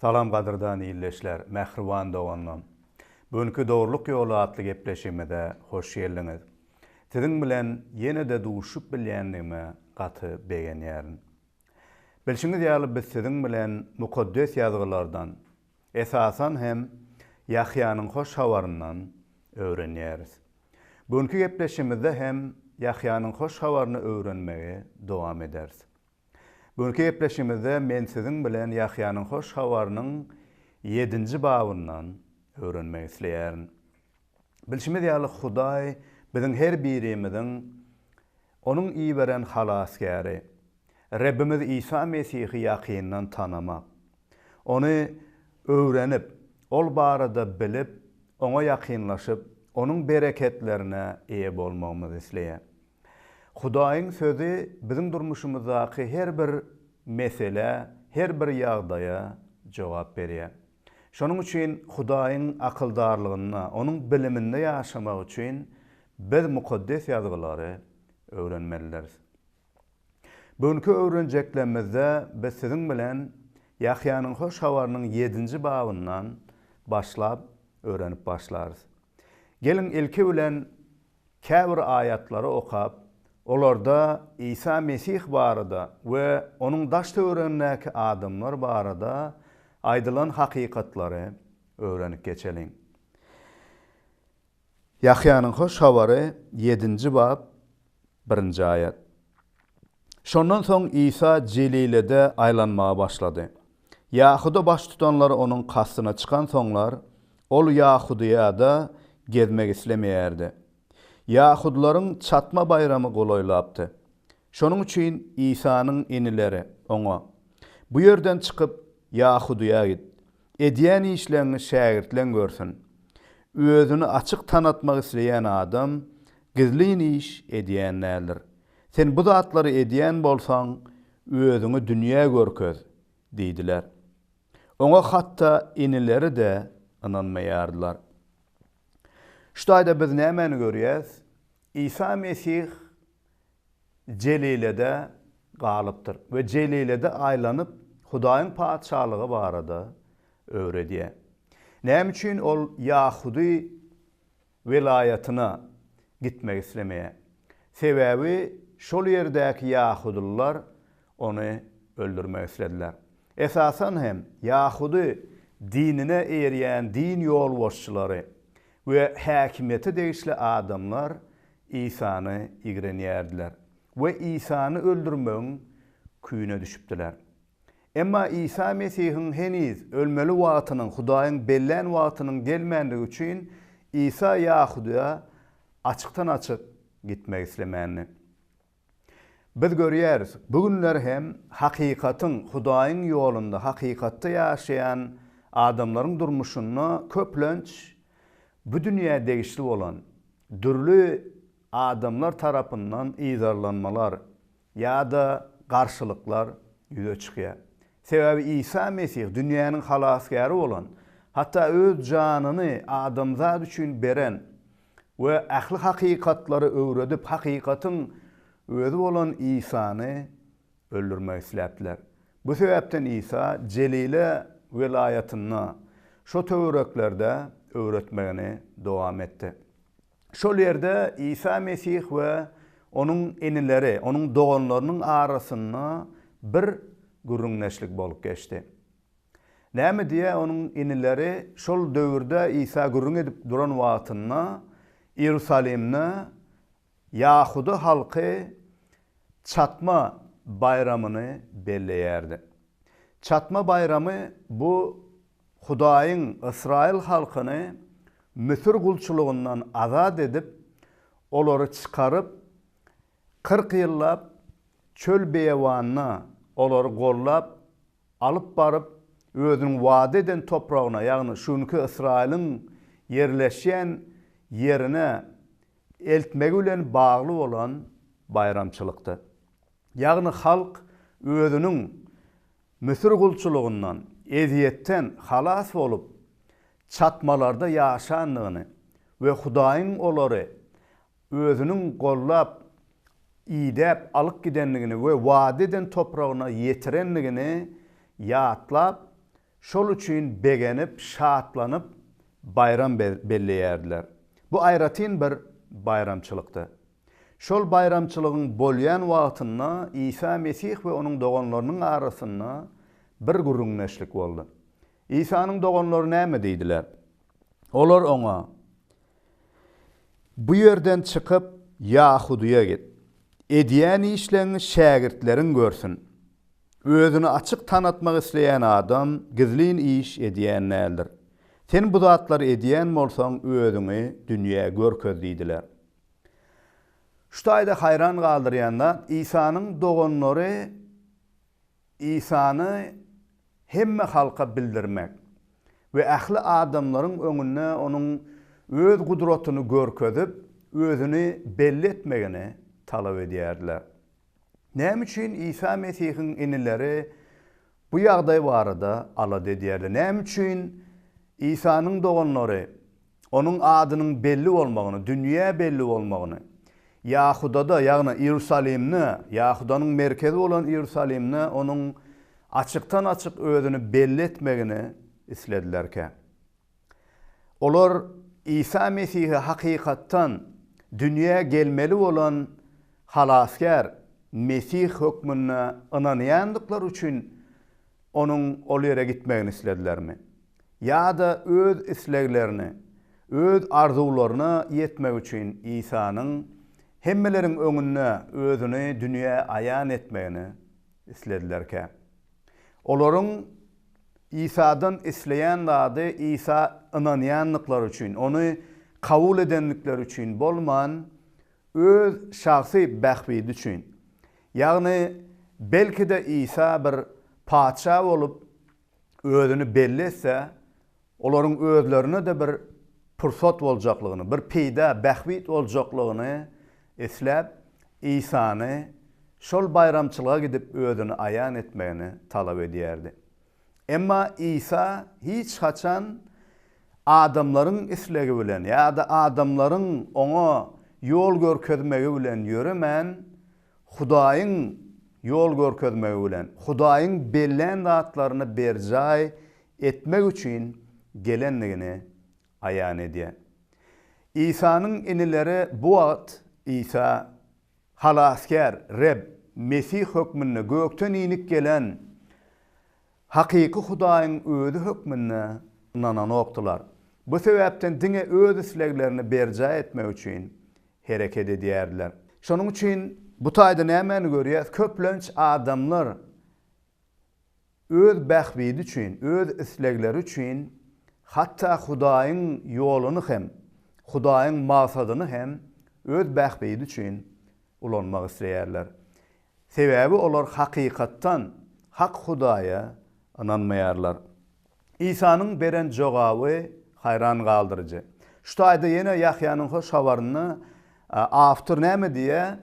Salam gadyrdan ildeşler, mähriban doganlarym! Bu günki Dogrulyk ýoly atly gepleşigimize hoş geldiňiz. Siziň bilen ýene-de duşup bilýändigime gaty begenýärin. Bilşiňiz ýaly biz siziň bilen Mukaddes Ýazgylardan, esasan hem Ýahýanyň Hoş Habaryndan öwrenýäris. Bu günki gepleşigimizde hem Ýahýanyň Hoş Habaryny öwrenmegi dowam ederis. Bu günki gepleşigimizde men siziň bilen Ýahýanyň Hoş Habarynyň ýedinji babyndan öwrenmek isleýärin. Bilşimiz ýaly, Hudaý biziň her birimiziň Onuň iberen Halasgäri, Rebbimiz Isa Mesihi ýakyndan tanamak, Ony öwrenip, Ol barada bilip, Oňa ýakynlaşyp, Onuň bereketlerine eýe bolmagymyzy isleýär. Hudaýyň Sözi biziň durmuşymyzdaky her bir meselä, her bir ýagdaýa jogap berýär. Şonuň üçin Hudaýyň akyldarlygynda, Onuň biliminde ýaşamak üçin biz Mukaddes Ýazgylary öwrenmelidiris. Bu günki öwrenjeklerimizde biz siziň bilen Ýahýanyň Hoş Habarynyň ýedinji babyndan başlap öwrenip başlarys. Geliň, ilki bilen, käbir aýatlary okap, olarda Isa Mesih barada we onuň daş-töweregindäki adamlar barada aýdylan hakykatlary öwrenip geçeliň. Ýahýanyň Hoş Habary ýedinji bap birinji aýat. Şondan soň Isa Jelilede aýlanmaga başlady. Ýahuda baştutanlary onuň kastyna çykansoňlar, ol Ýahudyýada gezmek islemeýärdi. Ýahudylaryň Çatma baýramy golaýlapdy. Şonuň üçin Isanyň inileri oňa, Bu ýerden çykyp, Ýahudyýa git. Edýän işleňňi şägirtleň görsün. Özüni açyk tanatmak isleýän adam gizlin iş edýän däldir. Sen bu zatlary edýän bolsaň, özüňi dünýä görkez! diýdiler. Oňa hatda inileri-de ynanmaýardylar. Şu taýda biz nämäni görýäs? Isa Mesih Jelilede galypdyr we Jelilede aýlanyp, Hudaýyň Patyşalygy barada öwredýär. Näme üçin ol ýahudy welaýatyna gitmek islemeýär? Sebäbi şol ýerdäki ýahudylylar ony öldürmek islediler. Esasan hem, ýahudy dinine eýerýän din ýolbaşçylary we häkimiýete degişli adamlar Isany ýigrenýärdiler we Isany öldürmegiň küýüne düşüpdiler. Emma Isa Mesihiň heniz ölmeli wagtynyň, Hudaýyň bellän wagtynyň gelmändigi üçin, Isa Ýahudaýa açykdan-açyk gitmek islemändi. Biz görýäris, bu günler hem hakykatyň, Hudaýyň ýolunda hakykatda ýaşaýan adamlaryň durmuşynda köplenç bu dünýä degişli bolan, dürli adamlar tarapyndan yzarlanmalar ýa-da garşylyklar ýüze çykýar. Sebäbi Isa Mesih dünýäniň Halasgäri bolan, hatda öz janyny adamzat üçin beren we ähli hakykatlary öwredip, hakykatyň Özi bolan Isany öldürmek isläpdiler. Bu sebäpden Isa Jelile welaýatynda, şo töwereklerde öwretmegini dowam etdi. Şol ýerde Isa Mesih we Onuň inileri, Onuň doganlarynyň arasynda bir gürrüňdeşlik bolup geçdi. Näme diýýär onuň inileri, şol döwürde Isa gürrüň edip duran wagtynda Iýerusalimde ýahuda halky Çatma baýramyny belleýärdi. Çatma baýramy bu Hudaýyň ysraýyl halkyny Müsür gulçulygyndan azat edip, olary çykaryp, kyrk ýyllap çöl-beýewanda olary gollap, alyp baryp, özüniň wada eden topragyna, ýagny şu günki Ysraýylyň ýerleşýän ýerine eltmegi bilen bagly bolan baýramçylykdy. Ýagny halk özüniň Müsür gulçulygyndan, ezýetden halas bolup, çatmalarda ýaşandygyny we Hudaýyň olary özüniň gollap, idäp alyp gidendigini we wada eden topragyna ýetirendigini ýatlap, şol üçin begenip, şatlanyp, baýram belleýärdiler. Bu aýratyn bir baýramçylykdy. Şol baýramçylygyň bolýan wagtynda Isa Mesih we onuň doganlarynyň arasynda bir gürrüňdeşlik boldy. Isanyň doganlary näme diýdiler? Olar oňa, Bu ýerden çykyp, Ýahudyýa git. Edýän işleňi şägirtleriň görsün. Özüni açyk tanatmak isleýän adam gizlin iş edýän däldir. Sen bu zatlary edýän bolsaň, özüňi dünýä görkez diýdiler. Şu taýda haýran galdyrýan zat, Isanyň doganlary Isany hemme halka bildirmek we ähli adamlaryň öňünde Onuň Öz gudratyny görkezip, Özüni belli etmegini talap edýärdiler. Näme üçin Isa Mesihiň inileri bu ýagdaý barada alada edýärdi? Näme üçin Isanyň doganlary Onuň adynyň belli bolmagyny, dünýä belli bolmagyny, Ýahudada, ýagny Iýerusalimde, Ýahudanyň merkezi bolan Iýerusalimde onuň açykdan-açyk özüni belli etmegini isledilerkä. Olar Isa Mesihi hakykatdan dünýä gelmeli bolan Halasgär, Mesih hökmünde ynanýandyklary üçin onuň ol ýere gitmegini isledilermi? Ýa-da öz isleglerine, öz arzuwlaryna ýetmek üçin Isanyň hemmeleriň öňünde özüni dünýä aýan etmegini isledilerkä? Olaryň Isadan isleýän zady Isa ynanýandyklary üçin, ony kabul edendikleri üçin bolman, öz şahsy bähbidi üçin, Ýagny, belki-de Isa bir patyşa bolup özüni belli etse, olaryň özlerine-de bir pursat boljaklygyny, bir peýda, bähbit boljaklygyny isläp, Isany şol baýramçylyga gidip özüni aýan etmegini talap edýärdi. Emma Isa hiç haçan adamlaryň islegi bilen ýa-da adamlaryň oňa ýol görkezmegi bilen ýöremän, Hudaýyň ýol görkezmegi bilen, Hudaýyň bellän zatlaryny berjaý etmek üçin gelendigini aýan edýär. Isanyň inileri bu wagt Isa Halasgär, Reb, Mesih hökmünde gökden inip gelen hakyky Hudaýyň Özi hökmünde ynananokdylar. Bu sebäpden diňe öz isleglerini berjaý etmek üçin hereket edýärdiler. Şonuň üçin bu taýda nämäni görýäris? Köplenç adamlar Öz bähbidi üçin, öz islegleri üçin hatda Hudaýyň ýoluny hem, Hudaýyň magsadyny hem öz bähbidi üçin ulanmak isleýärler. Sebäbi olar hakykatdan hak Hudaýa ynanmaýarlar. Isanyň beren jogaby haýran galdyryjy. Şu taýda ýene Ýahýanyň Hoş Habaryny awtor näme diýýär?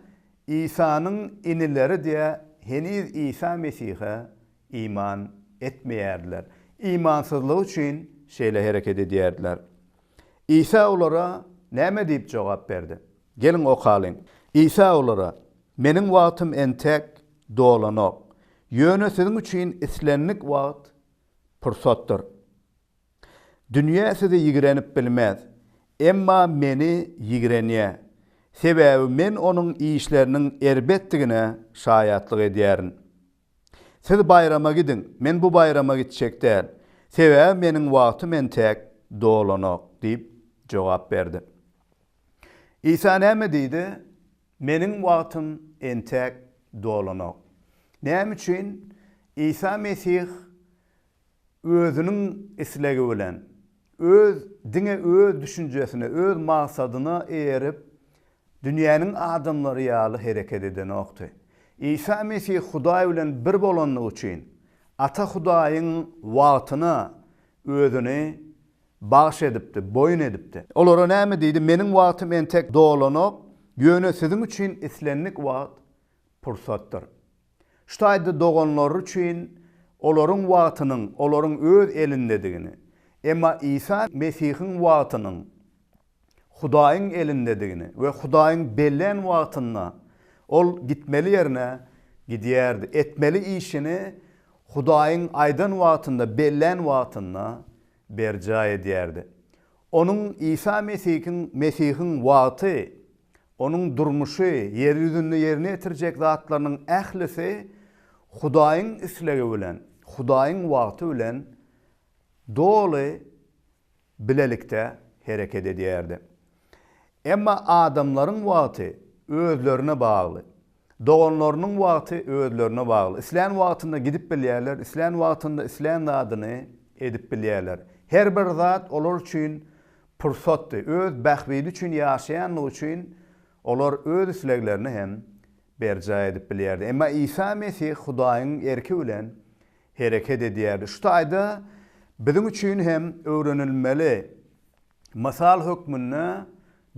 Isanyň inileri-de heniz Isa Mesihe iman etmeýärdiler. Imansyzlygy üçin şeýle hereket edýärdiler. Isa olara näme diýip jogap berdi? Geliň okalyň. Isa olara, Meniň wagtym entek dolanok. Ýöne siziň üçin islendik wagt pursatdyr. Dünýe sizi ýigrenip bilmez, emma Meni ýigrenýär, sebäbi Men onuň işleriniň erbetdigine şaýatlyk edýärin. Siz baýrama gidiň, Men bu baýrama gitjek däl, sebäbi Meniň wagtym entek dolanok diýip jogap berdi. Isa näme diýdi? Meniň wagtym entek dolanok. Näme üçin Isa Mesih özüniň islegi bilen, öz, diňe öz düşünjesine, öz maksadyna eýerip, dünýäniň adamlary ýaly hereket edenokdy. Isa Mesih Hudaý bilen bir bolandygy üçin, Ata Hudaýyň wagtyna özüni bagyş edipdi, boýun edipdi. Olara näme diýdi? Meniň wagtym entek dolanok, ýöne siziň üçin islendik wagt pursatdyr. Şu taýda doganlary üçin olaryň wagtynyň olaryň öz elindedigini, emma Isa Mesihiň wagtynyň Hudaýyň elindedigini we Hudaýyň bellän wagtynda ol gitmeli ýerine gidýärdi, etmeli işini Hudaýyň aýdan wagtynda, bellän wagtynda berjaý edýärdi. Onuň, Isa Mesihiň, Mesihiň wagty Onuň durmuşy, ýer ýüzünde ýerine ýetirjek zatlarynyň ählisi Hudaýyň islegi bilen, Hudaýyň wagty bilen doly bilelikde hereket edýärdi. Emma adamlaryň wagty özlerine bagly. Doganlarynyň wagty özlerine bagly. Islän wagtynda gidip bilýärler, islän wagtynda islän zadyny edip bilýärler. Her bir zat olar üçin pursatdy. Öz bähbidi üçin ýaşaýandygy üçin olar öz isleglerini hem berjaý edip bilýärdi. Emma Isa Mesih Hudaýyň erki bilen hereket edýärdi. Şu taýda biziň üçin hem öwrenilmeli mysal hökmünde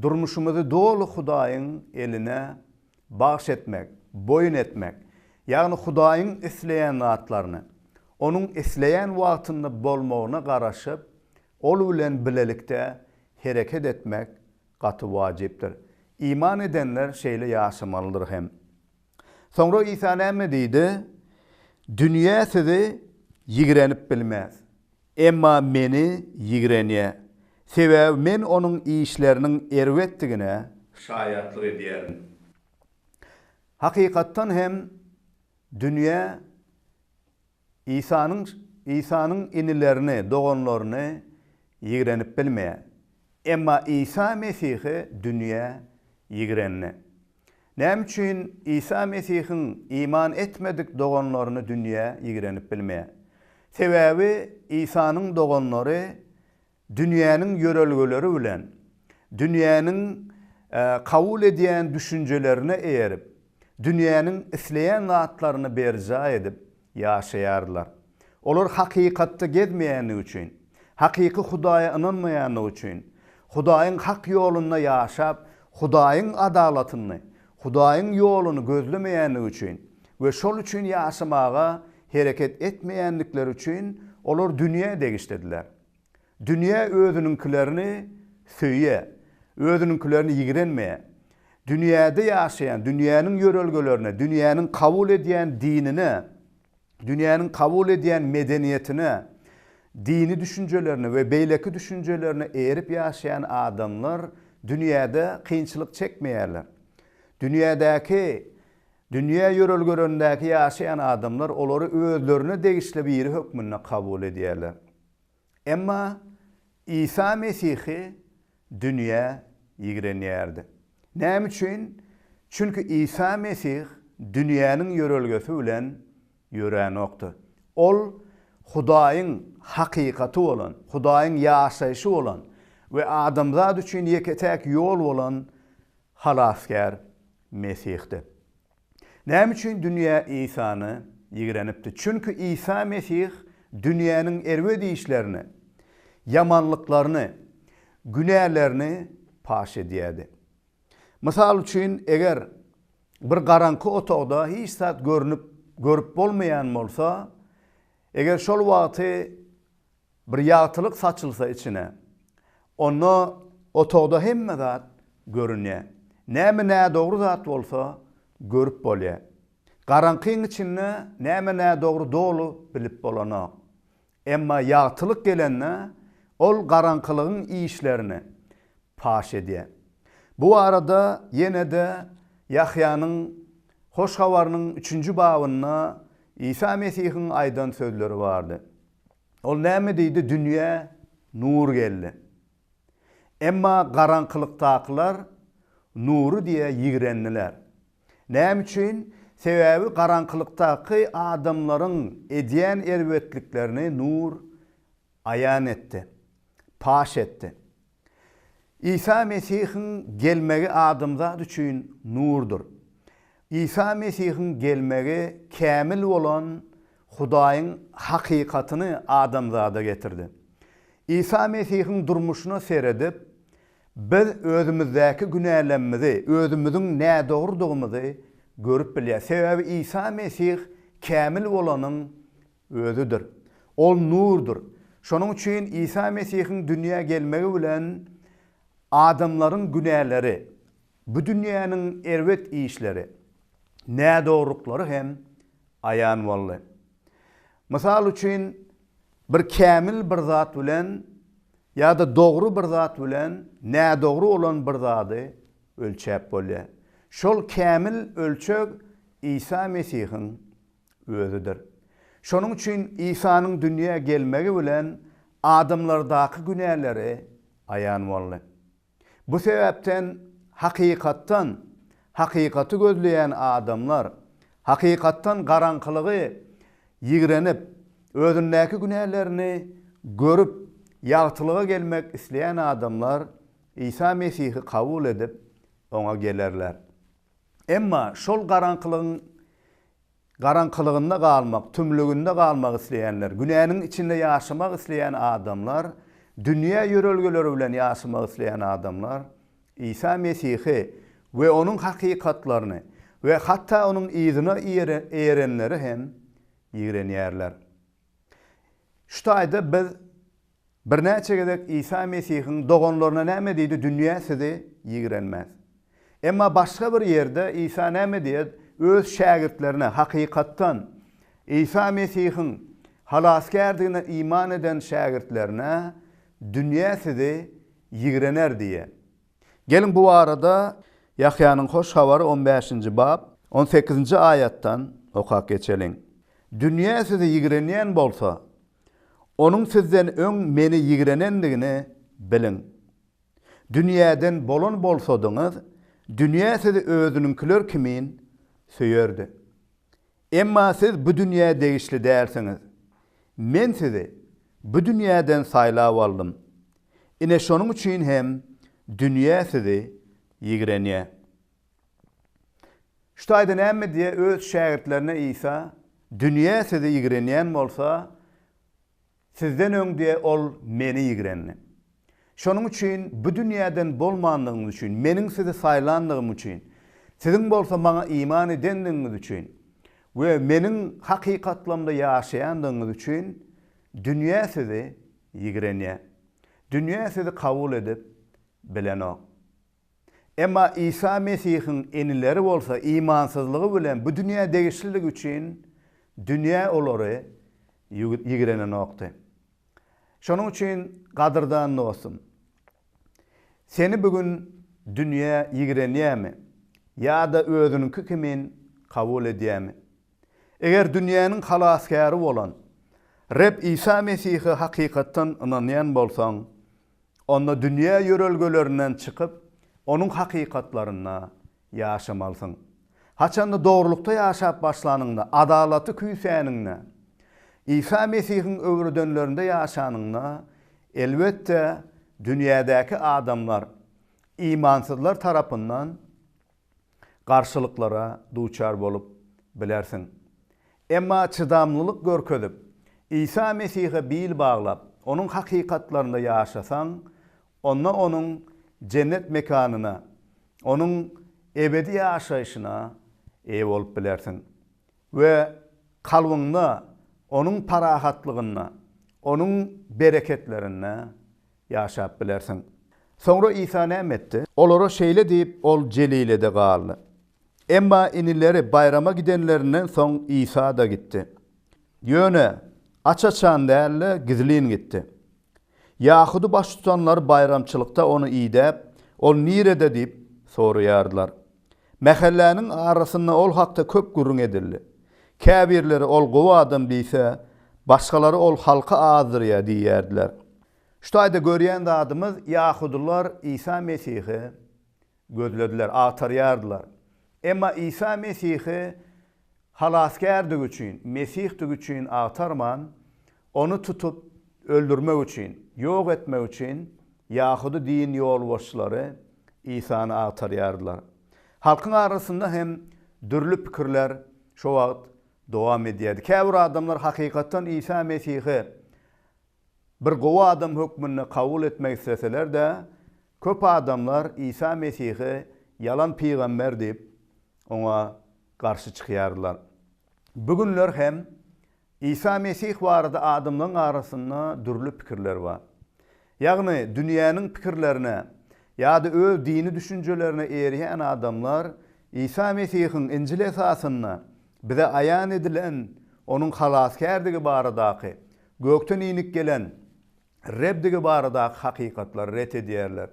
durmuşymyzy doly Hudaýyň eline Bagş etmek, boýun etmek, ýagny Hudaýyň isleýän zatlaryny, Onuň isleýän wagtynda bolmagyna garaşyp, Ol bilen bilelikde hereket etmek gaty wajypdyr. Iman edenler şeýle ýaşamalydyr hem. Soňra Isa näme diýdi? Dünýä sizi ýigrenip bilmez. Emma meni ýigrenýär. Sebäbi men onuň işleriniň erbetdigine şaýatlyk edýärin. Hakykatdan hem, dünýä Isanyň Isanyň inilerini, doganlaryny ýigrenip bilmeýär. Emma Isa Mesihe dünýä ýigrendi. Näme üçin Isa Mesihiň iman etmedik doganlaryny dünýä ýigrenip bilmeýär? Sebäbi Isanyň doganlary dünýäniň ýörelgeleri bilen, dünýäniň kabul edýän düşünjelerine eýerip, dünýäniň isleýän zatlaryny berjaý edip, Ýaşaýarlar. Olar hakykatda gezmeýänligi üçin, hakyky Hudaýa ynanmaýanlygy üçin, Hudaýyň hak ýolunda ýaşap, Hudaýyň adalatyny, Hudaýyň ýoluny gözlemeýänligi üçin we şol üçin ýaşamaga hereket etmeýändikleri üçin olar dünýä degişlidiler. Dünýä özüniňkilerini söýýä, özüniňkilerini ýigrenmeýä. Dünýäde ýaşaýan, dünýäniň ýörelgelerine, dünýäniň kabul edýän dinine, dünýäniň kabul edýän medeniýetine, dini düşünjelerine we beýleki düşünjelerine eýerip ýaşaýan adamlar dünýäde kynçylyk çekmeýärler. Dünýädäki, dünýä ýörelgelerindäki ýaşaýan adamlar olary özlerine degişli biri hökmünde kabul edýärler. Emma Isa Mesihi dünýä ýigrenýärdi. Näme üçin? Çünki Isa Mesih dünýäniň ýörelgesi bilen ýöränokdy. Ol Hudaýyň hakykaty bolan, Hudaýyň ýaşaýşy bolan we adamzat üçin ýeke-täk ýol bolan Halasgär Mesihdi. Näme üçin dünýä Isany ýigrenipdi? Çünki Isa Mesih dünýäniň erbet işlerini, ýamanlyklaryny, günälerini paş edýärdi. Mysal üçin, eger bir garaňky otagda hiç zat görnüp, görüp bolmaýan bolsa, eger şol wagty Bir ýagtylyk saçylsa içine. Onda otagda hemme zat görünýä. Näme nädogry zat bolsa görüp bolýa. Garaňkyň içinde näme nädogry doly bilip bolanok. Emma ýagtylyk gelende ol garaňkylygyň işlerini paş edýä. Bu barada ýene-de Ýahýanyň Hoş Habarynyň üçünji babynda Isa Mesihiň aýdan sözleri bardy. Ol näme diýdi, Dünýä nur geldi. Emma garaňkylykdakylar nury diýe ýigrendiler. Näme üçin? Sebäbi garaňkylykdaky adamlaryň edýän erbetliklerini nur aýan etdi, paş etdi. Isa Mesihiň gelmegi adamzat üçin nurdur. Isa Mesihiň gelmegi kämil bolan Hudaýyň hakykatyny adamzada getirdi. Isa Mesihiň durmuşyna seredip, biz özümizdäki günälemmizi, özümiziň nädogrydygymyzy görüp bilýäris. Sebäbi Isa Mesih kämil bolanyň Özüdir. Ol nurdur. Şonuň üçin Isa Mesihiň dünýä gelmegi bilen adamlaryň günäleri, bu dünýäniň erbet işleri, nädogruklary hem aýan boldy. Mysal üçin, bir kämil bir zat bilen ýa-da dogry bir zat bilen nädogry bolan bir zady ölçäp bolýar. Şol kämil ölçeg Isa Mesihiň Özüdir. Şonuň üçin Isanyň dünýä gelmegi bilen adamlardaky günäleri aýan boldy. Bu sebäpden hakykatdan, hakykaty gözleýän adamlar, hakykatdan garaňkylygy ýigrenip, özündäki günälerini görüp, ýagtylyga gelmek isleýän adamlar Isa Mesihi kabul edip, Oňa gelerler. Emma şol garaňkylygyň garaňkylygynda galmak, tümlüginde galmak isleýänler, günäniň içinde ýaşamak isleýän adamlar, dünýä ýörelgeleri bilen ýaşamak isleýän adamlar Isa Mesihi we onuň hakykatlaryny we hatda onuň yzyna eýerenleri hem ýigrenýärler. Şu taýda biz birnäçe gezek Isa Mesihiň doganlaryna näme diýdi, Dünýä sizi ýigrenmez. Emma başga bir ýerde Isa näme diýýär, Öz şägirtlerine, hakykatdan, Isa Mesihiň Halasgärdigine iman eden şägirtlerine, Dünýä sizi ýigrener diýýär. Geliň, bu barada Ýahýanyň Hoş Habary on bäşinji bap, on sekizinji aýatdan okap geçeliň. Dünýä sizi ýigrenýän bolsa, onuň sizden öň Meni ýigrenendigini biliň. Dünýäden bolan bolsadyňyz, dünýä sizi özüniňkiler kimin söýerdi. Emma siz bu dünýä degişli dälsiňiz. Men sizi bu dünýäden saýlap aldym. Ine şonuň üçin hem dünýä sizi ýigrenýär. Şu taýda näme diýýär öz şägirtlerine Isa, Dünýä sizi ýigrenýän bolsa, Sizden öň diýe ol meni ýigrendi. Şonuň üçin bu dünýäden bolmandygyňyz üçin, meniň sizi saýlandygym üçin, siziň bolsa maňa iman edendigiňiz üçin we meniň hakykatlamda ýaşaýandygyňyz üçin dünýä sizi ýigrenýär. Dünýä sizi kabul edip bilenok. Emma Isa Mesihiň inileri bolsa imansyzlygy bilen bu dünýä degişliligi üçin dünýä olary ýigrenenokdy. Şonuň üçin, gadyrdan dostum, seni bu gün dünýä ýigrenýärmi ýa-da özüniňki kimin kabul edýärmi? Eger dünýäniň Halasgäri bolan Reb Isa Mesihe hakykatdan ynanýan bolsaň, onda dünýä ýörelgelerinden çykyp, onuň hakykatlarynda ýaşamalysyň. Haçanda dogrulykda ýaşap başlanyňda, adalaty küýsäniňde, Isa Mesihiň öwredenlerinde ýaşanyňda, elbetde, dünýädäki adamlar, imansyzlar tarapyndan, garşylyklara duçar bolup bilersiň. Emma çydamlylyk görkezip, Isa Mesihe bil baglap, onuň hakykatlarynda ýaşasaň, onda onuň jennet mekanyna, onuň ebedi ýaşaýşyna eýe bolup bilersiň we kalbyňda onuň parahatlygyna, onuň bereketlerine Ýaşap bilersiň. Soňra Isa näme etdi? Olara şeýle diýip, ol Jelilede galdy. Emma inileri baýrama gidenlerinden soň Isa-da gitdi. Ýöne aç-açan däl-de, gizlin gitdi. Ýahudy baştutanlary baýramçylykda ony idäp, Ol nirede? diýip soraýardylar. Mähelläniň arasynda ol hakda köp gürrüň edildi. Käbirleri, Ol gowy adam diýse, başgalary, Ol halky azdyrýar diýýärdiler. Şu taýda görýän zadymyz, ýahudylar Isa Mesihi gözlediler, agtarýardylar. Emma Isa Mesihi Halasgärdigi üçin, Mesihdigi üçin agtarman, Ony tutup, öldürmek üçin, ýok etmek üçin ýahudy din ýolbaşçylary Isany agtarýardylar. Halkyň arasynda hem dürli pikirler şo wagt dowam edýärdi. Käbir adamlar hakykatdan Isa Mesihi Bir gowy adam hökmünde kabul etmek isleseler-de, köp adamlar Isa Mesihi ýalan pygamber diýip, oňa garşy çykýardylar. Bu günler hem Isa Mesih barada adamlaryň arasynda dürli pikirler bar. Ýagny, dünýäniň pikirlerine ýa-da öz dini düşünjelerine eýerýän adamlar Isa Mesihiň Injil esasynda bize aýan edilen Onuň halasgärdigi baradaky, gökden inip gelen Rebdigi baradaky hakykatlary ret edýärler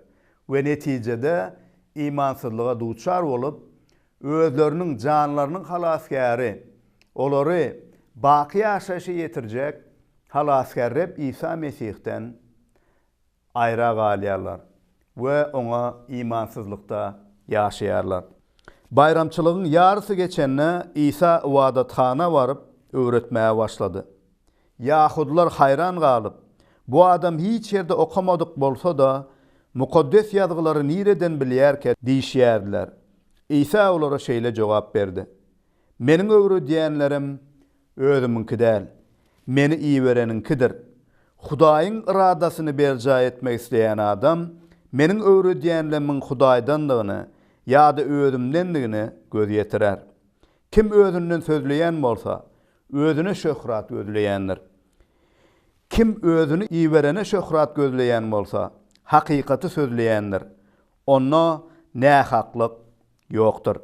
we netijede imansyzlyga duçar bolup, özleriniň janlarynyň halasgäri, olary baky ýaşaýşa ýetirjek Halasgär Reb Isa Mesihden aýra galýarlar we oňa imansyzlykda ýaşaýarlar. Baýramçylygyň ýarysy geçende Isa ybadathana baryp, öwretmäge başlady. Ýahudylar haýran galyp, Bu adam hiç ýerde okamadyk bolsa-da, Mukaddes Ýazgylary nireden bilýärkä? diýişýärdiler. Isa olara şeýle jogap berdi, Meniň öwredýänlerim Özümiňki däl, Meni ibereniňkidir. Hudaýyň yradasyny berjaý etmek isleýän adam Meniň öwredýänlemiň Hudaýdandygyny ýa-da Özümdendigine göz ýetirer. Kim özünden sözleýän bolsa, özüne şöhrat gözleýändir. Kim Özüni iberene şöhrat gözleýän bolsa, hakykaty sözleýändir. Onda nähaklyk ýokdur.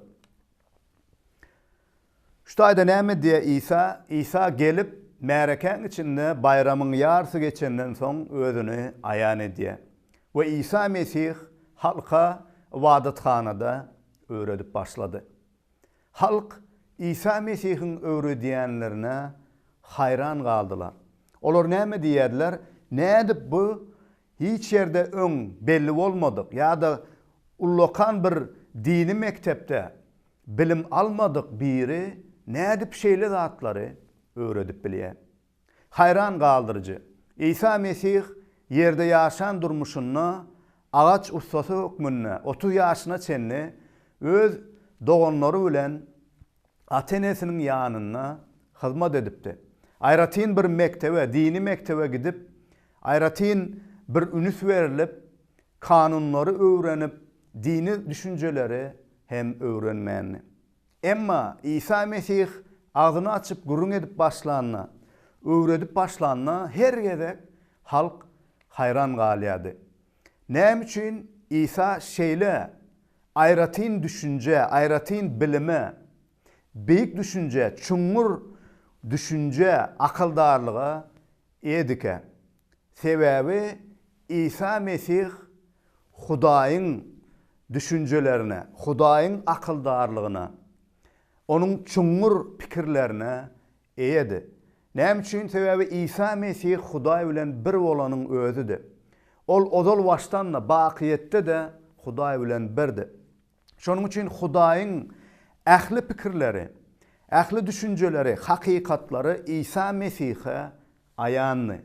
Şu taýda näme diýýär Isa? Isa gelip, märekäň içinde baýramyň ýarysy geçenden soň Özüni aýan edýär. We Isa Mesih halka ybadathanada öwredip başlady. Halk Isa Mesihiň öwredýänlerine haýran galdylar. Olar näme diýýärdiler, Nädip bu hiç ýerde öň belli bolmadyk ýa-da ullakan bir dini mekdepde Bilim almadyk biri nädip şeýle zatlary öwredip bilýär? Haýran galdyryjy, Isa Mesih ýerde ýaşan durmuşynda agaç ussasy hökmünde otuz ýaşyna çenli öz doganlary bilen ata-enesiniň ýanynda hyzmat edipdi. Aýratyn bir mekdebe, dini mekdebe gidip, aýratyn bir üns berlip, Kanunlary öwrenip, dini düşünjeleri hem öwrenmändi. Emma Isa Mesih agzyny açyp gürrüň edip başlanda, öwredip başlanda her gezek halk haýran galýardy. Näme üçin Isa şeýle aýratyn düşünjä, aýratyn bilime, beýik düşünjä, çuňňur düşünjä, akyldarlyga eýedikä? Sebäbi Isa Mesih Hudaýyň düşünjelerine, Hudaýyň akyldarlygyna, Onuň çuňňur pikirlerine eýedi. Näme üçin? Sebäbi Isa Mesih Hudaý bilen bir bolanyň özüdi. Ol ozal-başdan-da, bakyýetde-de Hudaý bilen birdi. Şonuň üçin Hudaýyň ähli pikirleri, ähli düşünjeleri, hakykatlary Isa Mesihe aýandy.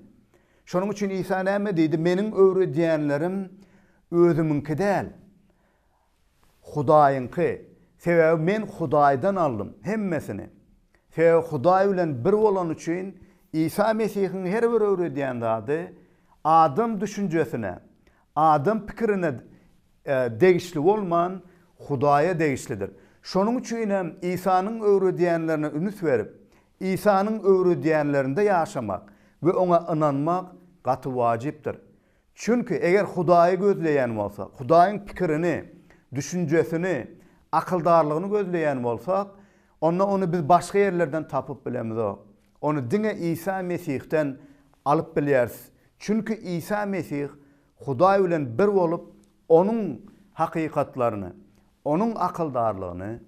Şonuň üçin Isa näme diýdi, Meniň öwredýänlerim özümiňki däl, Hudaýyňky. Sebäbi Men Hudaýdan aldym hemmesini. Sebäbi Hudaý bilen bir bolany üçin Isa Mesihiň her bir öwredýän zady adam düşünjesine, adam pikirine degişli bolman, Hudaýa degişlidir. Şonuň üçin hem Isanyň öwredýänlerine ünüs berip, Isanyň öwredýänlerinde ýaşamak we oňa ynanmak gaty wajypdyr. Çünki eger Hudaýy gözleýän bolsak, Hudaýyň pikirini, düşünjesini, akyldarlygyny gözleýän bolsak, onda ony biz başga ýerlerden tapyp bilemizok. Ony diňe Isa Mesihden alyp bilýäris. Çünki Isa Mesih Hudaý bilen bir bolup, Onuň hakykatlaryny, Onuň akyldarlygyny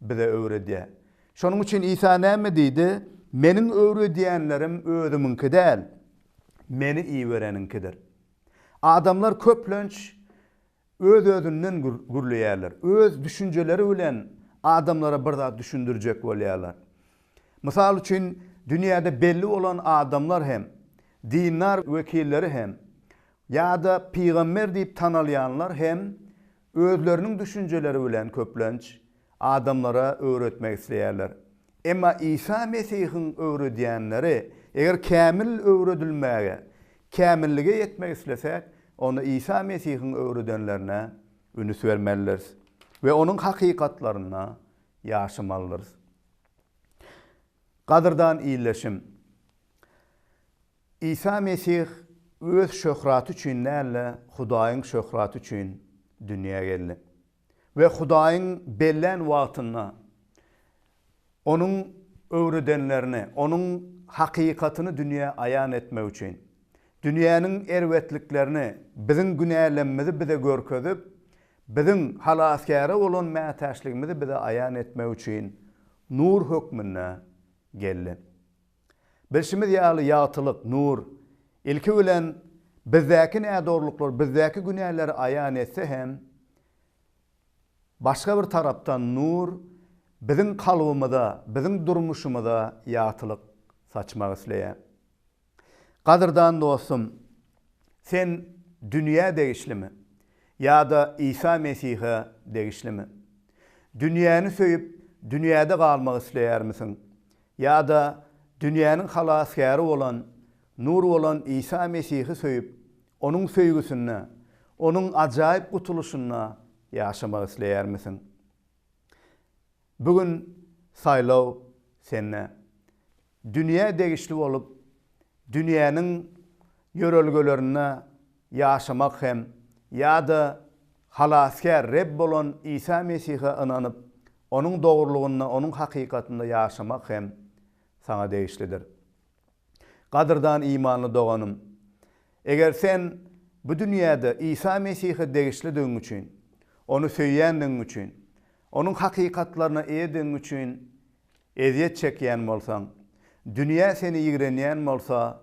bize öwredýär. Şonuň üçin Isa näme diýdi? Meniň öwredýänlerim özümiňki däl, Meni ibereniňkidir. Adamlar köplenç öz-özünden gürleýärler, öz düşünjeleri bilen adamlara bir zat düşündirjek bolýarlar. Mysal üçin, dünýäde belli bolan adamlar hem, dindar wekilleri hem ýa-da pygamber diýip tanalýanlar hem özleriniň düşünjeleri bilen köplenç adamlara öwretmek isleýärler. Emma Isa Mesihiň öwredýänleri, eger kämil öwredilmäge, kämillige ýetmek islesäk, onda Isa Mesihiň öwredenlerine ünüs bermelidiris we onuň hakykatlaryna ýaşamalydyrys. Gadyrdan ildeşim! Isa Mesih öz şöhraty üçin däl-de, Hudaýyň şöhraty üçin dünýä geldi. We Hudaýyň bellän wagtynda Onuň öwredenlerini, Onuň hakykatyny dünýä aýan etmek üçin, dünýäniň erbetliklerini, biziň günälemmizi bize görkezip, Biziň Halasgäre bolan mätäçligimizi bize aýan etmek üçin nur hökmünde geldi. Bilşimiz ýaly, ýagtylyk, nur, ilki bilen, bizdäki nädogrulyklary, bizdäki günäleri aýan etse hem, başga bir tarapdan nur biziň kalbymyza, biziň durmuşymyza ýagtylyk saçmak isleýär. Gadyrdan dostum, sen dünýä degişlimi ýa-da Isa Mesihe degişlimi? Dünýäni söýüp, dünýäde galmak isleýärmisiň? Ýa-da dünýäniň Halasgäri bolan, Nur bolan Isa Mesihi söýüp, Onuň söýgüsinde, Onuň ajaýyp gutulyşynda ýaşamak isleýärmisiň? Bu gün saýlaw sende. Dünýä degişli bolup, dünýäniň ýörelgelerinde ýaşamak hem ýa-da Halasgär Reb bolan Isa Mesihe ynanyp, Onuň dogrulygynda, Onuň hakykatynda ýaşamak hem saňa degişlidir. Gadyrdan imanly doganym! Eger sen bu dünýäde Isa Mesihe degişlidigiň üçin, Ony söýýändigiň üçin, Onuň hakykatlaryna eýedigiň üçin ezýet çekýän bolsaň, dünýä seni ýigrenýän bolsa,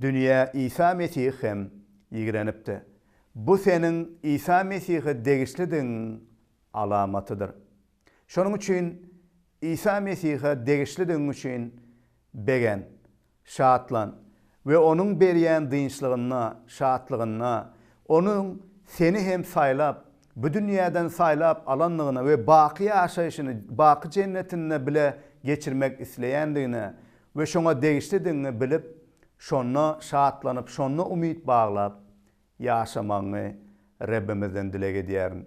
dünýä Isa Mesihi hem ýigrenipdi. Bu seniň Isa Mesihe degişlidigiň alamatydyr. Şonuň üçin Isa Mesihe degişlidigiň üçin begen, şatlan we Onuň berýän dynçlygynda, şatlygynda, Onuň seni hem saýlap, bu dünýäden saýlap alandygyna we baky ýaşaýşyny baky Jennetinde bile geçirmek isleýändigine we şoňa degişlidigiňi bilip, şonda şatlanyp, şonda umyt baglap ýaşamagyňy Rebbimizden dileg edýärin.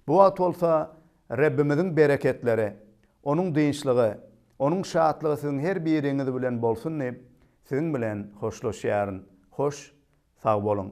Bu wagt bolsa Rebbimiziň bereketleri, Onuň dynçlygy, Onuň şatlygy siziň her biriňiz bilen bolsun diýip, siziň bilen hoşlaşýaryn. Hoş, sag boluň!